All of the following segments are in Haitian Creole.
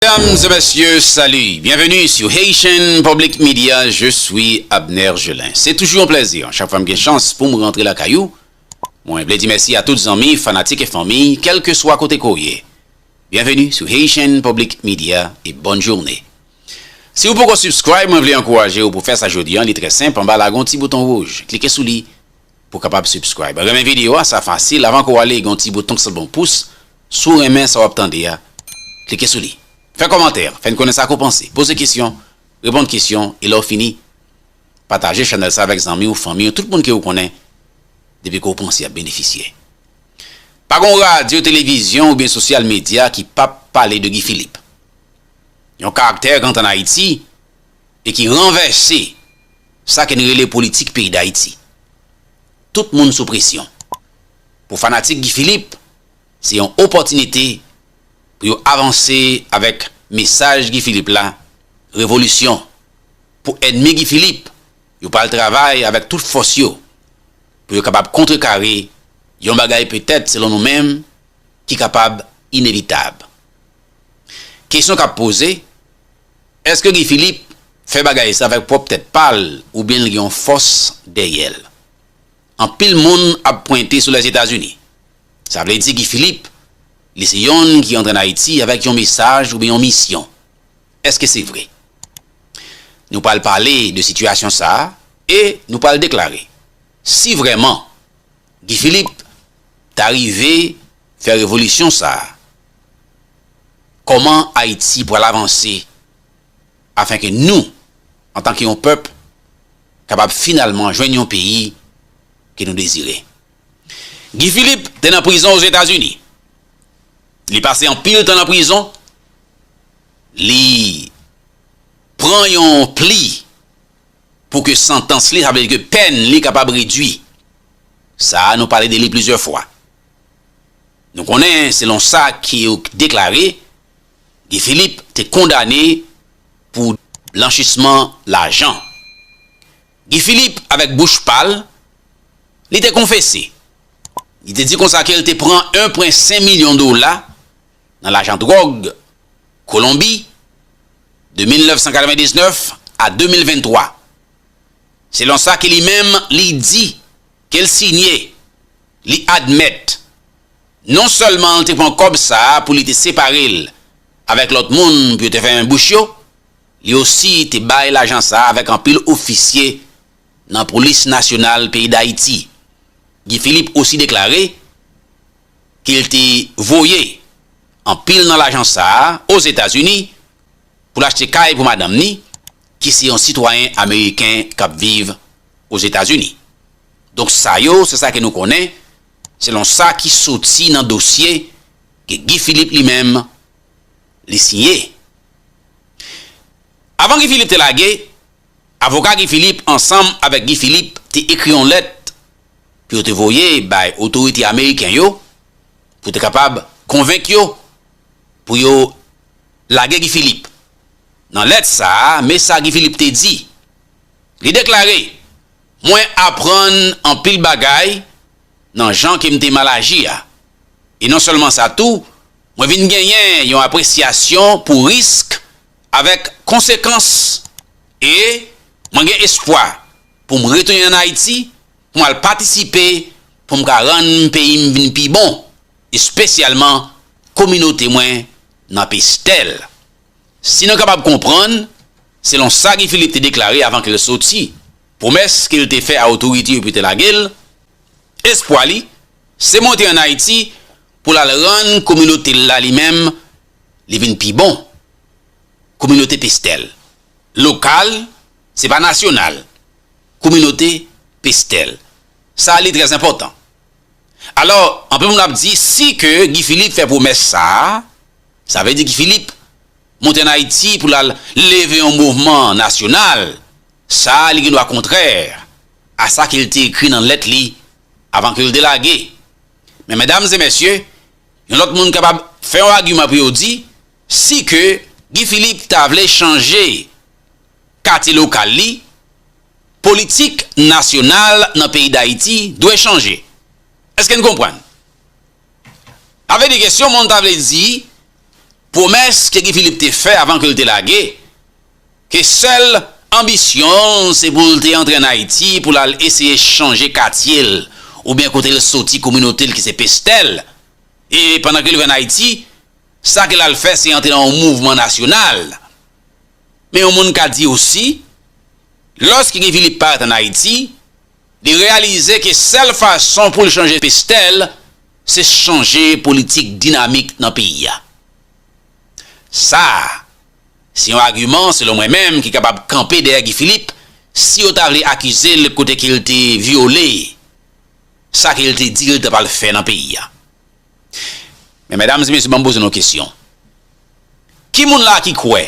Medam e mesye salu, byenveni su Haitian Public Media je swi Abner Gelin se tuju yon plèzi chak fwa m gen chans pum rantre lakay ou mwen vle di mèsi a tout zanmi fanatik e fanmi kelke swa kote ke w ye byenveni su Haitian Public Media e bòn journe si w poko subscribe mwen vle ankouraje w pou fè sa jodi an li trè senp anba la gon ti bouton wouj klike sou li Pou kapab subscribe renmen video a sa fasil avan ke w ale gen yon ti bouton ki sanble yon pous si w renmen sa w ap tande a klike sou li fè kòmantè fè n konnen sa ke w panse poze kesyon reponn kesyon e lè w fini pataje chanèl sa avèk zanmi w fanmi w tout moun ke w konnen depi ke w panse y ap benefisye pa gen yon radyo televizyon oubyen sosyal medya ki pap pale de Guy Philippe yon karaktè kant an Ayiti. e ki ranvèse sa ke n rele politik peyi Dayiti. Tout moun sou presyon. Pou fanatik Guy Philippe, se yon opòtinite pou yo avanse avèk mesaj Guy Philippe la, Revolisyon. Pou ènmi Guy Philippe, yo pral travay avèk tout fòs yo pou yo kapab kontrekare yon bagay petèt selon nou menm ki kapab inevitab. Kesyon k ap poze, Eske Guy Philippe fè bagay sa avèk pwòp tèt pa l oubyen l gen yon fòs dèyè l? Anpil moun ap pwente sou Lèzetazini. Sa vle di Guy Philippe li se yonn ki antre an Ayiti avèk yon mesaj oubyen yon misyon. Eske se vre? Nou pral pale de sitiyasyon sa e nou pral deklare si vrèman Guy Philippe ta rive fè revolisyon sa. Kòman Ayiti pral avanse afen ke nou, antan ke yon pèp, kapab finalman jwenn yon peyi ke nou dezire. Guy Philippe te nan prizon Ozetazini. Li pase anpil tan nan prizon. Li pran yon pli pou ke santans li, sa vle di ke pèn li kapab redui. Sa a nou pale de li plizyè fwa. Nou konnen, selon sa ki deklare, Guy Philippe te kondane pou blanchisman lajan. Guy Philippe avèk bouch pa l, li te konfese. Li te di konsa ke l te pran 1,5 milyon dola nan lajan dwòg Kolonbi de 1999 a 2023. Selon sa ke li menm li di. Ke l sinye, li admèt, non sèlman l te pran kòb sa a pou li te separe l avèk lòt moun pou yo te fèmen bouch yo, li osi te bay lajan sa a avèk anpil ofisye nan Polis Nasyonal peyi Dayiti. Guy Philippe osi deklare ke l te voye anpil nan lajan sa a Ozetazini pou l achte kay pou madanm ni, ki se yon sitwayen ameriken k ap viv Ozetazini. Donk sa yo se sa ke nou konnen, selon sa ki soti nan dosye ke Guy Philippe li menm li siye. Avan Guy Philippe te lage, avoka Guy Philippe ansanm avèk Guy Philippe te ekri yon lèt pou yo te voye bay otorite ameriken yo pou te kapab konvenk yo pou yo Lage Guy Philippe. Nan lèt sa a, me sa Guy Philippe te di. Li deklare, Mwen aprann anpil bagay nan jan ke m te mal aji a. E non sèlman sa tou, mwen vin genyen yon apresyasyon pou risk avèk konsekans e mwen gen espwa pou m retounen ann Ayiti pou m al patisipe pou m ka rann peyi m vin pi bon. espesyalman kominote mwen nan Pestèl. Si nou kapab konprann, selon sa Guy Philippe te deklare avan ke l soti, pwomès ke l te fè a otorite yo pou yo te lage l, espwa li, se monte an Ayiti pou l al rann kominote l la li menm, li vin pi bon. Kominote Pestèl. Lokal, se pa nasyonal. Kominote Pestèl. Sa li trèzenpòtan. Alò, anpil moun ap di si ke Guy Philippe fè pwomès sa a, sa vle di Guy Philippe monte ann Ayiti pou l al leve yon mouvman nasyonal, sa a li gen dwa kontrè a sa ke l te ekri nan lèt li avan ke l te lage. Men medam e mesye, yon lòt moun kapab fè yon agiman pou yo di si ke Guy Philippe ta vle chanje katye lokal li, Politik nasyonal nan peyi Dayiti dwe chanje. Eske n konprann? Sa vle di ke si yon moun ta vle di pwomès ke Guy Philippe te fè avan ke l te lage, ke sèl anbisyon l se pou l te antre an Ayiti pou l al eseye chanje katye l oubyen kote l soti, kominote l ki se Pestèl, e pandan ke l rive an Ayiti, sa ke l al fè se antre nan yon mouvman nasyonal. Men yon moun ka di osi, lòske Guy Philippe parèt an Ayiti, li reyalize ke sèl fason pou l chanje Pestel, se chanje politik dinamik nan peyi a. Sa a, se yon agiman, selon mwen menm, ki kapab kanpe dèyè Guy Philippe, si yo ta vle akize l kote ke l te vyole sa ke l te di l ta pral fè nan peyi a. Men medam e mesye banm poze nou kesyon ki moun la ki kwè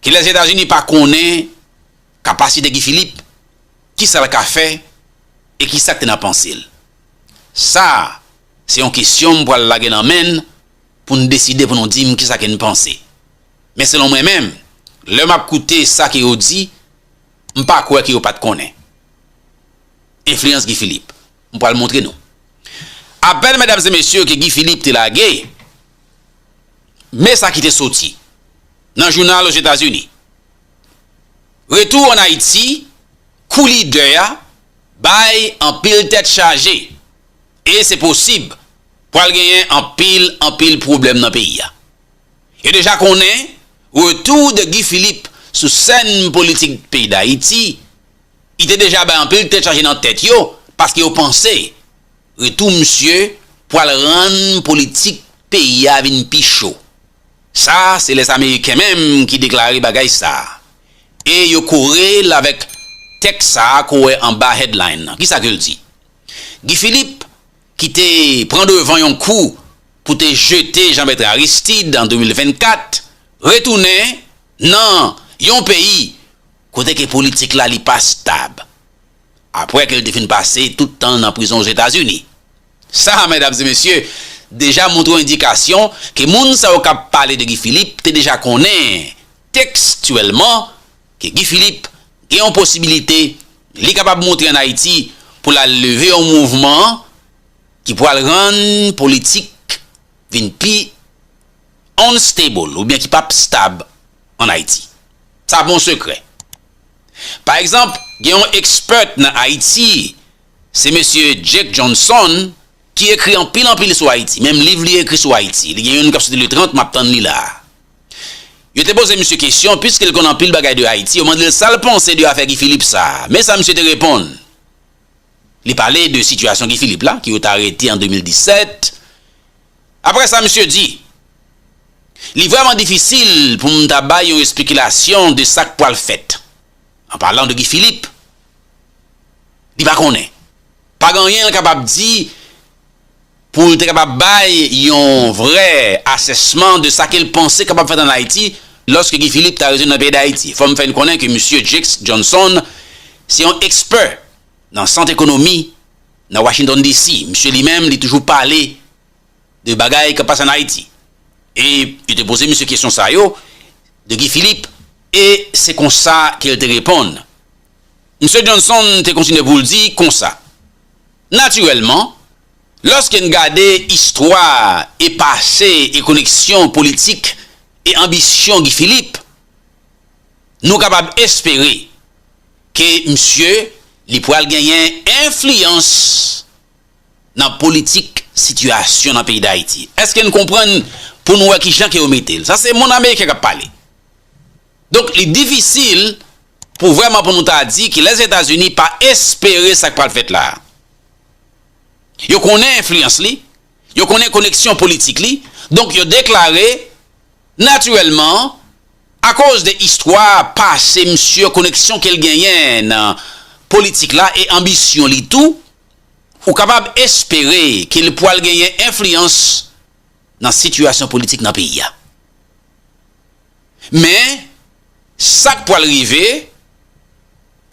ke lèzetazini pa konnen kapasite Guy Philippe kisa l ka fè e kisa k te nan panse l sa se yon kesyon m pral lage nan men n pou n deside pou nou di m kisa ke n panse men selon mwen menm lè map koute sa ke yo di m pa kwè ke yo pat konnen enfliyans Guy Philippe. M pral montre nou. Apèl medam e mesye ke Guy Philippe te lage, me sa ki te soti nan jounal Ozetazini. Retou an Ayiti kou lidè a bay anpil tèt chaje e se posib pral genyen anpil anpil pwoblèm nan peyi a. Yo deja konnen retou de Guy Philippe sou sèn politik peyi Dayiti Li te deja bay anpil tèt chaje nan tèt yo paske yo panse retou misye pwal rann politik peyi a vin pi cho. Sa se les Ameriken menm ki deklare bagay sa e yo kore l avèk tèks sa ke w wè anba headline lan. Kisa ke l di? Guy Philippe ki te pran devan yon kou pou te jete Jean Bertrand Aristide an 2024 retounen nan yon peyi kote ke politik la li pa stab, apwè ke li te fin pase tout tan l nan prizon Ozetazini. Sa a, medam e mesye, deja montre yon endikasyon ke moun sa yo k ap pale de Guy Philippe te deja konnen, tekstyèlman, ke Guy Philippe gen yon posibilite li kapab montre an Ayiti pou l al leve yon mouvman ki pwal rann politik vin pi unstable oubyen ki pap stab an Ayiti. Sa bon sekrè. Pa egzanp, gen yon expert nan Ayiti, se mesye Jake Johnson ki ekri anpil anpil sou Ayiti. Menm liv li ekri sou Ayiti. Li gen youn kap soti le 30, map tann li la a. Yo te poze misye kesyon, piske l konn anpil bagay de Ayiti, yo mande l sa l panse de afè Guy Philippe sa a. Men sa misye te reponn. Li pale de sitiyasyon Guy Philippe la, ke yo ta rete an 2017. Apre sa misye di, Li vrèman difisil pou m ta bay yon espekilasyon de sa k pwal fèt. An palan de Guy Philippe, li pa konnen. Pa gen anyen l kapab di pou l te kapab bay yon vrè asèsman de sa ke l panse kapab fèt ann Ayiti lòske Guy Philippe ta retounen nan peyi Dayiti. Fò m fè n konnen ke misye Jakes Johnson se yon ekspè nan sant ekonomi nan Washington DC. Misye li menm li toujou pale de bagay k ap pase ann Ayiti. E yo te poze misye kesyon sa yo de Guy Philippe e se konsa ke l te reponn. Misye Johnson te kontinye pou l di konsa. Natirèlman, lòske n gade istwa e pase e koneksyon politik e anbisyon Guy Philippe, nou kapab espere ke misye li pral genyen enfliyans nan politik sitiyasyon nan peyi Dayiti. Èske n konprann pou nou wè kijan ke yo mete l? Sa se Mon Ameriken k ap pale. Donk li difisil pou vrèman pou nou ta di ki lès Etazini pa espere sa k pral fèt la a. Yo konnen enfliyans li, yo konnen koneksyon politik li, donk yo deklare natirèlman akoz de istwa pase misye, koneksyon ke l genyen nan politik la e anbisyon li tou, ou kapab espere ke li pwal genyen enfliyans nan sitiyasyon politik nan peyi a. Men, sa k pral rive,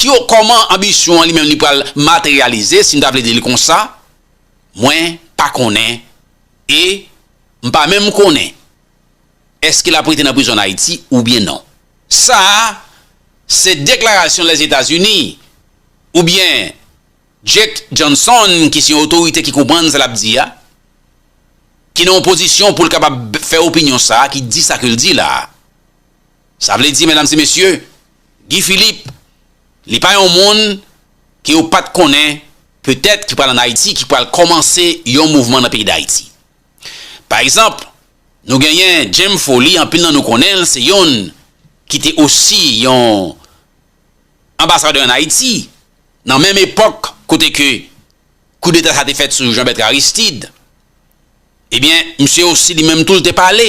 ki o kòman anbisyon an li menm li pral materyalize, si n ta vle di li konsa, mwen pa konnen e m pa menm konnen èske l ap rete nan prizon ann Ayiti oubyen non. Sa a, se deklarasyon Lèzetazini oubyen. Jake Johnson ki se yon otorite ki konprann sa l ap di a, ki nan yon pozisyon pou l kapab fè opinyon sa ki di sa ke l di la a. Sa vle di medam e mesye, Guy Philippe li pa yon moun ke yo pat konnen petèt ki pral an Ayiti ki pral kòmanse yon mouvman nan peyi Dayiti. Pa egzanp, nou genyen James Foley anpil nan nou konnen l se yonn ki te osi yon anbasadè an Ayiti nan menm epòk kote ke koudeta sa te fèt sou Jean Bertrand Aristide, ebyen misye osi li menm tou li te pale.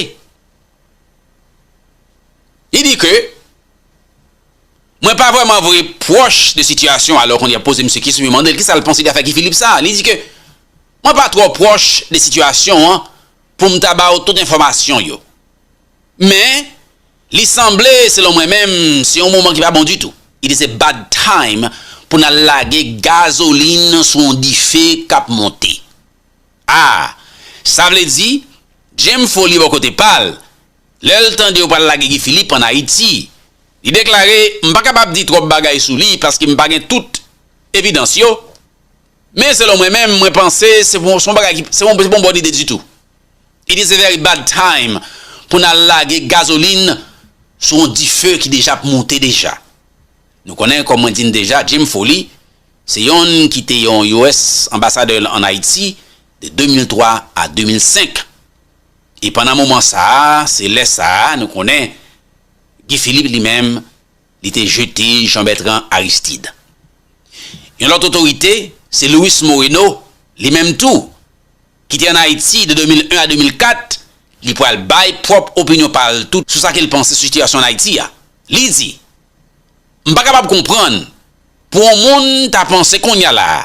Li di ke mwen pa vrèman vre pwòch de sitiyasyon, alò kounye a poze misye kesyon, yo mande l kisa l panse de afè Guy Philippe sa a, li di ke mwen pa twò pwòch de sitiyasyon an pou m ta ba ou tout enfòmasyon yo. Men, Li sanble, selon mwen menm, se yon moman ki pa bon ditou. It is a bad time pou n al lage gazolin sou yon dife k ap monte. Ah! Sa vle di, James Follier bò kote pa l, lè l tande yo pral lage Guy Philippe ann Ayiti, li deklare, m pa kapab di twòp bagay sou li paske m pa gen tout evidans yo, men selon mwen menm, mwen panse se pa yon bagay ki, se pa yon bon ide ditou. It is a very bad time pou n al lage gazolin sou yon dife ki deja ap moute deja. Nou konnen kòm mwen di n deja Jim Foley se yonn ki te yon US anbasadè l an Ayiti de 2003 a 2005 e pandan moman sa a se lè sa a nou konnen Guy Philippe li menm Li te jete Jean-Bertrand Aristide. Yon lòt otorite, se Luis Moreno, li menm tou, ki te ann Ayiti de 2001 a 2004, li pral bay pwòp opinyon pa l tou sou sa ke l panse sou sitiyasyon ann Ayiti a. Li di, M pa kapab konprann pou yon moun ta panse kounye a la a,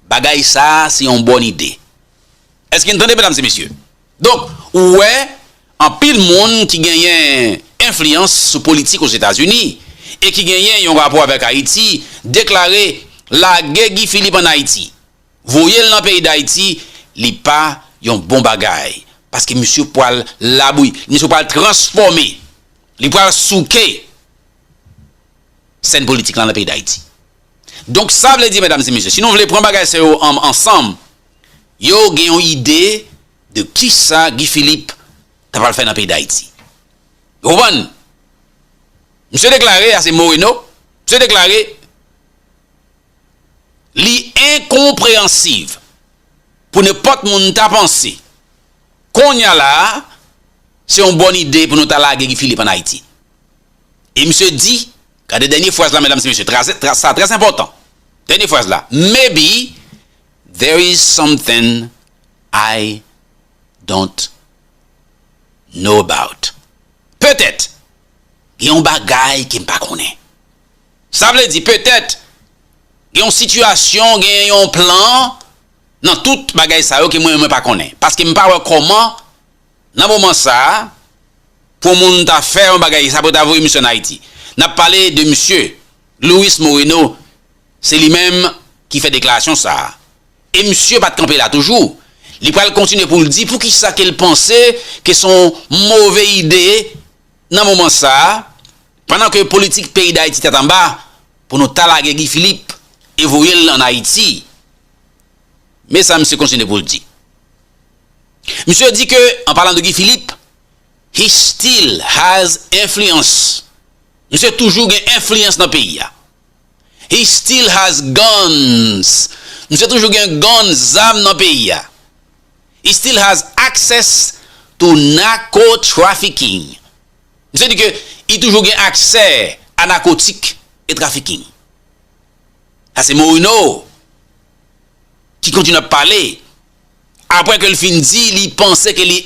bagay sa a se yon bòn ide. Èske n tande, medam e mesye? Donk, ou wè, anpil moun ki genyen enfliyans sou politik Ozetazini e ki genyen yon rapò avèk Ayiti deklare lage Guy Philippe ann Ayiti, voye l nan peyi Dayiti, li pa yon bon bagay paske misye pral labouyi, misye pral transfòme, li pral souke sèn politik la nan peyi Dayiti. Donk, sa vle di, medam e mesye, si nou vle pran bagay sa yo ansanm, Yo gen yon ide de kisa Guy Philippe ta pral fè nan peyi Dayiti. Ou konprann? Misye deklare, a se Moreno, misye deklare li enkonpreyansiv pou nenpòt moun ta panse konnya la a se yon bòn ide pou nou ta lage Guy Philippe an Ayiti. E misye di, gade dènye fraz la medam se mesye, sa trè enpòtan, dènye fraz la, maybe There is something I don't know about Petèt, gen yon bagay ke m pa konnen. Sa vle di, petèt, gen yon sitiyasyon, gen yon plan nan tout bagay sa yo ke mwen, mwen pa konnen. Paske m pa wè kòman, nan moman sa a, pou yon moun ta fè yon bagay sa pou yo ta voye misye ann Ayiti. N ap pale de misye Luis Moreno Se li menm ki fè deklarasyon sa a. E misye pa t kanpe la toujou. Li pral kontinye pou l di pou ki sa ke l panse ke se yon move ide nan moman sa a, pandan ke politik peyi Dayiti tèt anba, pou nou ta lage Guy Philippe e voye l ann Ayiti. Men sa misye kontinye pou l di. Misye di ke, an palan de Guy Philippe, He still has influence. Misye toujou gen enfliyans nan peyi a. He still has guns Misye toujou gen guns, zam nan peyi a. He still has access to narco trafficking Misye di ke li toujou gen aksè a nakotik e trafiking. Sa se Moreno ki kontinye ap pale apre ke li fin di li panse ke li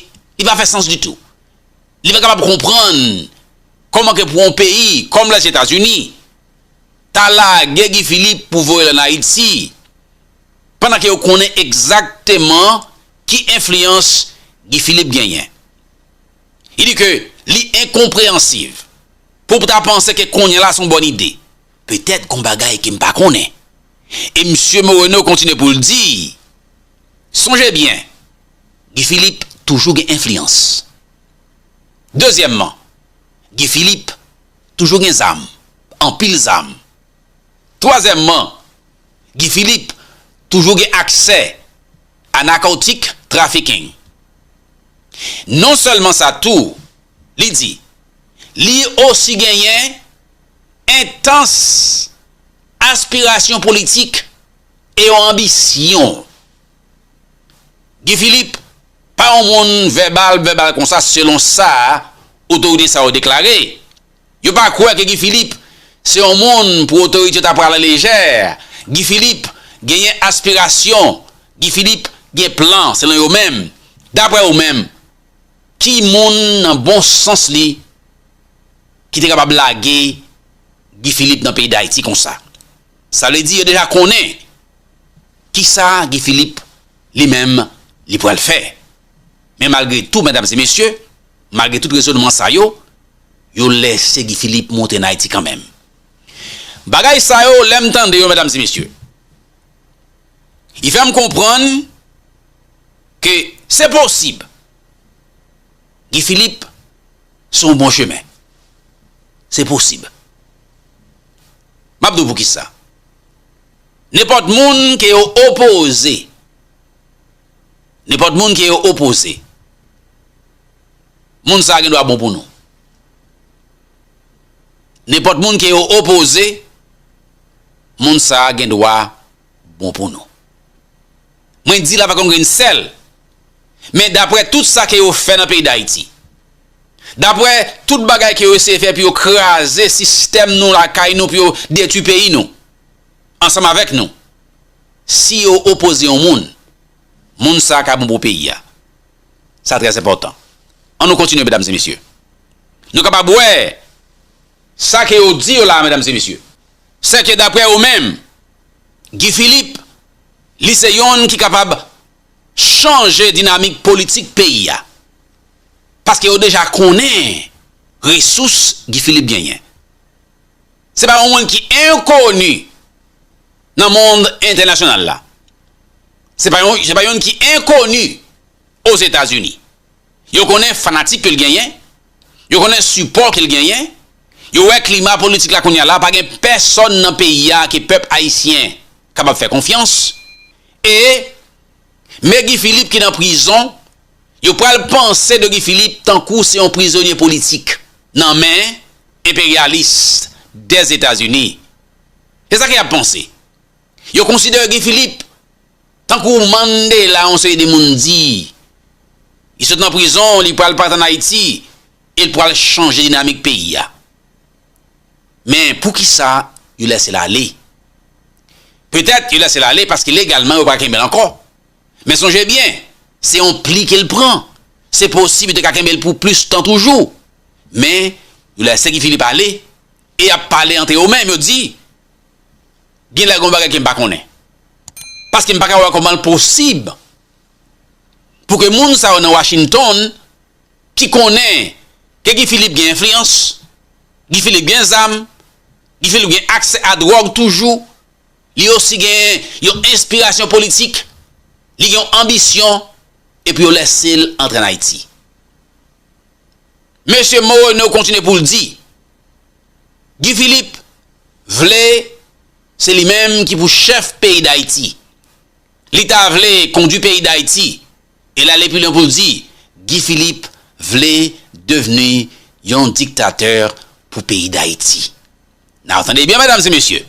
pa fè sans ditou. Li pa kapab konprann kòman ke pou yon peyi kòm Lèzetazini ta lage Guy Philippe pou voye l an Ayiti pandan ke yo konnen egzakteman ki enfliyans Guy Philippe genyen. Li di ke li enkonpreyansiv pou pou ta panse ke kounye la se yon bòn ide. Petèt gon bagay ke m pa konnen. E Msye Moreno kontinye pou l di, Sonje byen, Guy Philippe toujou gen enfliyans. Dezyèmman, Guy Philippe toujou gen zam, anpil zam. Twazyèmman, Guy Philippe toujou gen aksè a narcotic trafficking. Non sèlman sa tou, li di, li osi genyen entans aspirasyon politik e yon anbisyon. Guy Philippe pa yon moun vèbal vèbal konsa selon sa otorite sa yo deklare. Yo pa kwè ke Guy Philippe se yon moun pou otorite yo ta pran ala lejè. Guy Philippe genyen aspirasyon, Guy Philippe gen plan selon yo menm. Daprè yo menm, ki moun nan bon sans li ki te kapab lage Guy Philippe nan peyi Dayiti konsa? Sa vle di yo deja konnen kisa Guy Philippe li menm li pral fè. Men malgre tou medam e mesye, malgre tout rezonman sa yo, yo lèse Guy Philippe monte an Ayiti kanmenm. Bagay sa yo lè m tande yo medam e mesye, li fè m konprann ke se posib Guy Philippe sou yon bon chemen. Se posib. M ap di w poukisa. Nenpòt moun ke yo opoze, nenpòt moun ke yo opoze, moun sa a gen dwa bon pou nou. Nenpòt moun ke yo opoze, moun sa a gen dwa bon pou nou. Mwen di la pa konn grenn sèl, men daprè tout sa ke yo fè nan peyi Dayiti, daprè tout bagay ke yo eseye fè pou yo kraze sistèm nou lakay nou, pou yo detwi peyi nou, ansanm avèk nou, si yo opoze yon moun, moun sa ka bon pou peyi a. Sa trè enpòtan. An nou kontinye medam e mesye. Nou kapab wè sa ke yo di yo la medam e mesye. Sè ke daprè ou menm, Guy Philippe, li se yonn ki kapab chanje dinamik politik peyi a. Paske yo deja konnen resous Guy Philippe genyen. Se pa yon moun ki enkoni nan mond entènasyonal la. Se pa yonn ki enkoni Ozetazini. Yo konnen fanatik ke l genyen, yo konnen sipò ke l genyen, yo wè klima politik la kounye a la pa gen pèsòn nan peyi a ke pèp ayisyen kapab fè konfyans e Me Guy Philippe ki nan prizon, yo pral panse de Guy Philippe tankou se yon prizonye politik nan men enperyalis Dèzetazini. Se sa ke y ap panse. Yo konsidere Guy Philippe tankou Mandela yon seri de moun di. Li sot nan prizon, li pral pati ann Ayiti e l pral chanje dinamik peyi a. Men pou ki sa yo lèse l ale? Petèt yo lèse l ale paske legalman yo pa ka kenbe l ankò. Men sonje byen, se yon pli ke l pran. Se posib yo te ka kenbe l pou plis tan toujou. Men yo lèse Guy Philippe ale e y ap pale antre yo menm, yo di Gen lè gen yon bagay ke m pa konnen. Paske m pa ka wè kòman l posib pou ke moun sa yo nan Washington ki konnen ke Guy Philippe gen enfliyans, Guy Philippe gen zam, Guy Philippe gen aksè a dwòg toujou, li osi gen yon enspirasyon politik, li gen yon anbisyon, epi yo lèse l antre an Ayiti. Mesye Moreno kontinye pou l di, Guy Philippe vle se li menm ki pou chèf peyi Dayiti. Li ta vle kondwi peyi Dayiti e l ale pi lwen pou l di Guy Philippe vle devni yon diktatè pou peyi Dayiti. Nan tande byen medam e mesye.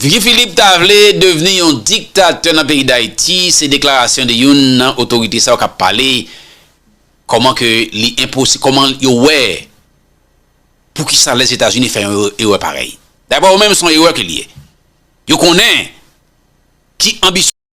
Guy Philippe ta vle devni yon diktatè nan peyi Dayiti se deklarasyon de youn nan otorite sa yo k ap pale Kòman ke li enposib, kòman yo wè poukisa Lèzetazini fè yon erè parèy. Daprè yo menm, se yon erè ke li ye. Yo konnen ki anbisyon.